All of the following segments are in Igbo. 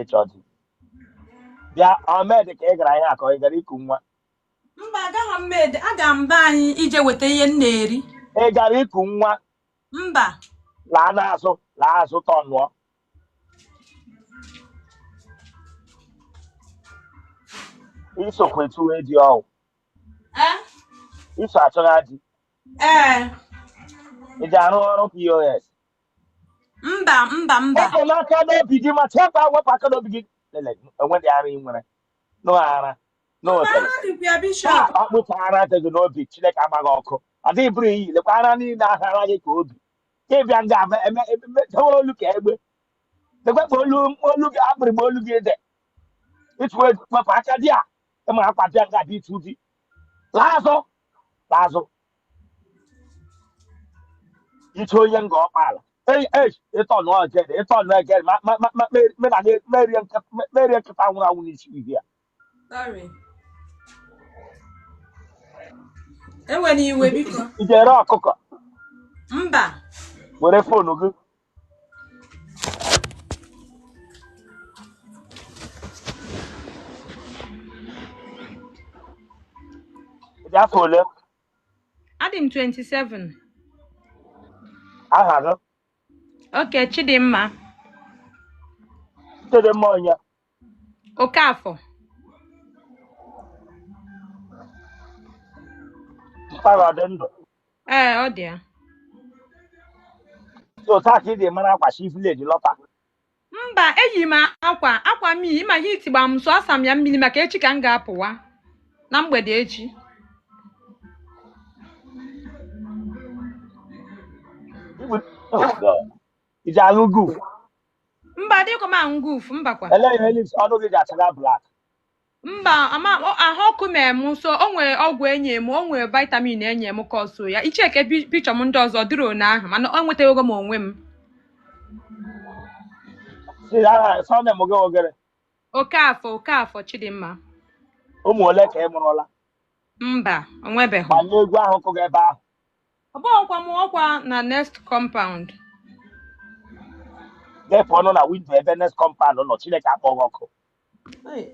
ịchọ di bịa o medị ka ị gara ihe akọ ị gara iku nwa mba agaghị m ede aga m be anyị ije weta ihe m na-eri ị gara iku nwa mba laa n'azụ laa azụ tọnụọ isokwa etu edi ọwụ Eh? iso achọga di ee ị ji arụ ọrụ pos mba mba mba wepụ n'aka n'obi gị ma chee mba wepụ aka n'obi gị lele enwedị ara ị nwere no ara no otele ara dịkwa ya bishọp akpụchara ara dị gị n'obi chineke agbaghị ọkụ adịghị bụrụ iyi lekwa ara niile ahara gị ka obi ka ịbịa nga ama eme eme dewe olu ka egbe lekwa ka olu olu gị akpịrị ma olu gị dị ịtụ egwu wepụ aka dị a ịma akwa bịa nga dị ịtụ di laa azụ laa azụ ị wụ onye Ngọ Okpala ịtọ nụ ọjede ịtọ nụ ejede ma- ma- ma- ma- me- me na nye- merie nkịta- me- merie nkịta nwụrụ anwụ n'isi uhie a. Sorry. Ewele iwe biko. ị ji ere ọkụkọ Mba. were fonu gị Dị afọ ole? Adị m 27. Aha gị? Oke Chidimma. Chidimma onye? Okafor. Mpa gị ọ dị ndụ. Ee, ọ dị ya. So taa ka ị ji mara akwa shi vileji lọta. Mba, eyi m akwa akwa m iyi ma heat gba m so asa m ya mmiri maka echi ka m ga-apụwa na mgbede echi. Ibu- Oh, God. Iji aṅụ guf. mba adịghịkwa m aṅụ guf mbakwa Ele ihe lips ọnụ gị ji achaga black. mba ama ọ- ahụ ọkụ mere m so o nwere ọgwụ enye m o nwere vitamin enye m ka ọ so ya ị checkie pi- picture m ndị ọzọ dịrị one ahụ mana enwetago m onwe m Si aha surname gị ọ gịrị. Okafor Okafor chidimma Ụmụ ole ka ị mụrụla? mba o nwebeghị Gbanye egwu ahụ kụga ebe ahụ. ọ bụghịkwa m ọkwa na next compound na-efe ọnụ na windo ebe next compound nọ chineke akpọghị ọkụ Hey,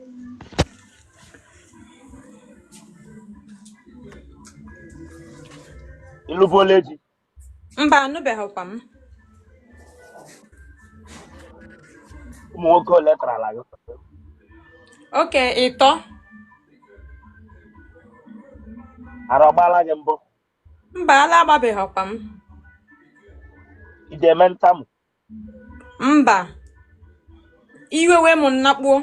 ịlụbuola di mba alụbeghịkwa m ụmụ nwoke ole kọrọla gị oke ịtọ ara ọgbaala gị mbụ mba ala agbabeghịkwa m ị ga-eme ntamu mba iwe wee m nnakpuo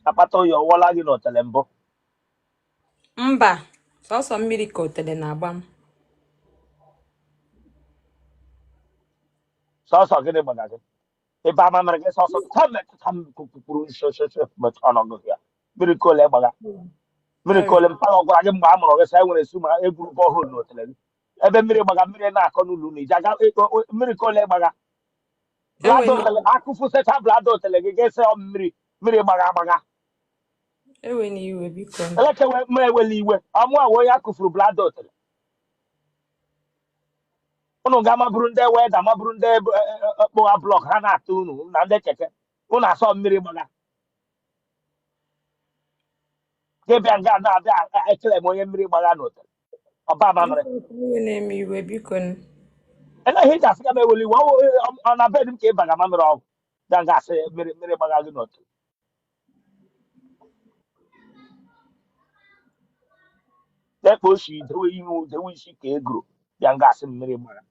akpata oyi ọ wụla gị n'otele mbụ mba sọsọ mmiri ka otele na-agba m sọsọ gịnị gbaga gị ebe ama mere gị sọsọ tam tam kwuru nshoshoso metụ ọnọdụ ya mmiri ka ole gbagha mmiri ka ole mpaghara ọ gwara gị mgbe a mụrụ gị sị anyị nwere issue ma e gwuru borehole na otele gị ebe mmiri gbagha mmiri na-akọ n'ụlọ unu i ji aga ịkpọ- o- mmiri ka ole gbagha bladder Enwere- otele akụfu secha bladder otele gị ga-ese ọ mmiri mmiri gbagha agbagha ewena iwe biko nụ. elekewe ma ewela iwe ọ mụwa onye akụfuru bladder otele unu ga ma ọ bụrụ ndị welder ma ọ bụrụ ndị kpụgha block ha na-atụ unu na ndị keke unu asọ mmiri gbagha gị bịa nga na-abịa claim onye mmiri gbagha n'otele ọba mamịrị na-eme iwe biko nụ. ele ihe ị ga-asị ka m eweli iwe ọ wụ ọ na bed m ka ị baga mamịrị ọgwụ ga nga asị mmiri mmiri gbaga gị n'otele dekpa osi dewe ihu dewe isi ka e goro bịa nga asị mmiri gbaga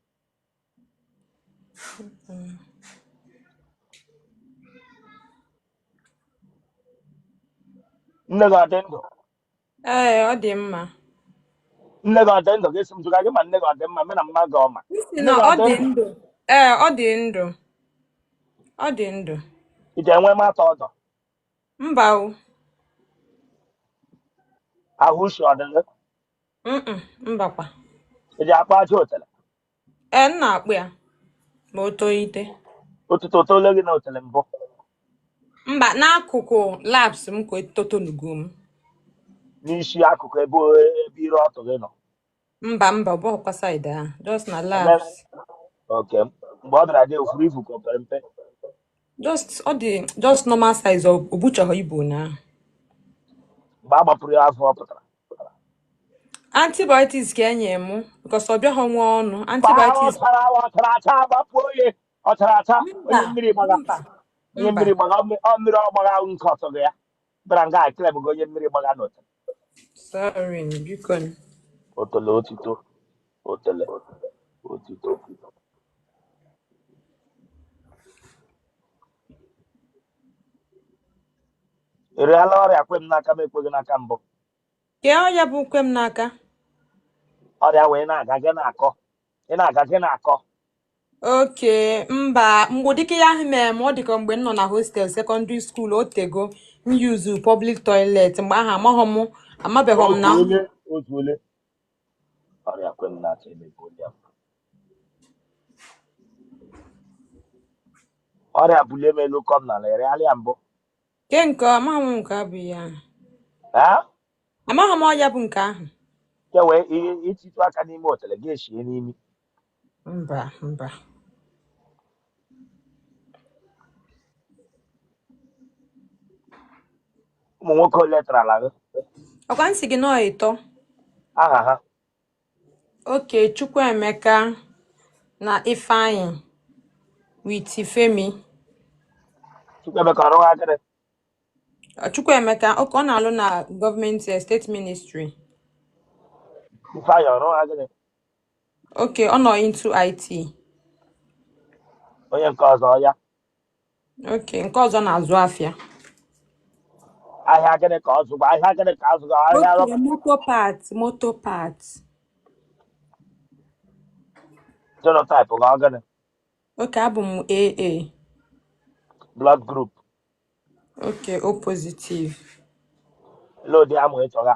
nne gị ọ dị ndụ ee ọ dị mma nne gị ọ dị ndụ ga-esi m jụga gị ma nne gị ọ dị mma me na mma gị ọma isi nne na gị ọ adị dị ndụ ndụ ee ọ dị ndụ ọ dị ndụ ị ga-enwe mata ọdọ mba o ahụ ushi ọ dị gị Mm-mm, mbakwa i ji akpụ ajị otele ee m na-akpụ ya ma o tolite otuto o tole gị na otele mbụ mba n'akụkụ laps m ka etotonugo m n'isi akụkụ ebe ebe ire ọtụ gị nọ mba mba ọ bụghịkwa side ahụ just na Eme- laps oke mgbe ọ dara gị o furu ifu ka o pere mpe just ọ dị just normal size ọ o buchaghị ibu ụnyaahụ mgbe a gbapụrụ ya afọ ọ pụtara antibiotics ka e nye mụ because ọ bịaghị nwe ọnụ gbara antibiotics ọ chara ọ chara acha agbapụọ ya ọ chara acha onye mba mmiri gbaga mba onye mba mmiri gbaga ọ mmiri ọ mmiri ọ gbaga nke ọtọ gị ya bịara nga claim gị onye mmiri gbaga n'otele sorry biko nụ. otele otito otele otito Ị rịala ọrịa kwe m n'aka m ekweghị n'aka mbụ. Kee ọya bụ kwe m n'aka. Ọrịa wee na-aga gị na-akọ. Ị na-aga gị na-akọ. Oke mba mgbe ụdịka ya ahụ mere m ọ dịka mgbe m nọ na hostel secondary school o tego m yuzu public toilet mgbe ahụ amaghị m amabeghị m na Otu ole otu ole. ọrịa kwe m n'aka emegbu onye m ọrịa bulie m elu kụọ m n'ala ị rịala ya mbụ Kee nke ọ amaghị m nke bụ ya ahụ. ee Amaghị m ọya bụ nke ahụ. kewe ihe ịtụtụ aka n'ime otele gị eshie n'imi mba mba ụmụ nwoke ole tarala gị ọkwa m sị gị na ọ ịtọ aha ha oke chukwuemeka na ifeanyị with femi chukwuemeka ọ rụgha gịnị chukwuemeka oke ọ na-alụ na government eh, state ministry ifeanyị ọ rụgha gịnị oke ọ nọ into IT onye nke ọzọ ya oke nke ọzọ na-azụ afịa ahịa gịnị ka ọ zụga ahịa gịnị ka azụ ahịa oke rọba moto part moto part genotype gị ọ gịnị oke abụ m aa blood group oke o positive load ya ma ị chọga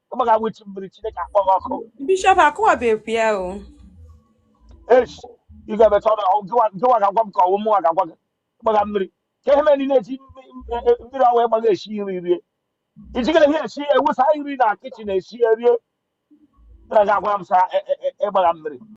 ị gbaga wụchi mmiri chineke akpọọ gị ọkụ bishop kọwabekwu ya o echi ị ga-emecha ọrụ ahụ gịwa gịwa ga-agwa m ka ọ wụ mụnwa ga-agwa gị gbaga mmiri ka ihe mere niile eji mmiri ọwa ịgbaga esi nri rie iji gịnị ihe esi ewusa nri na kitchen esi rie na ga-agwa m sị ịgbaga mmiri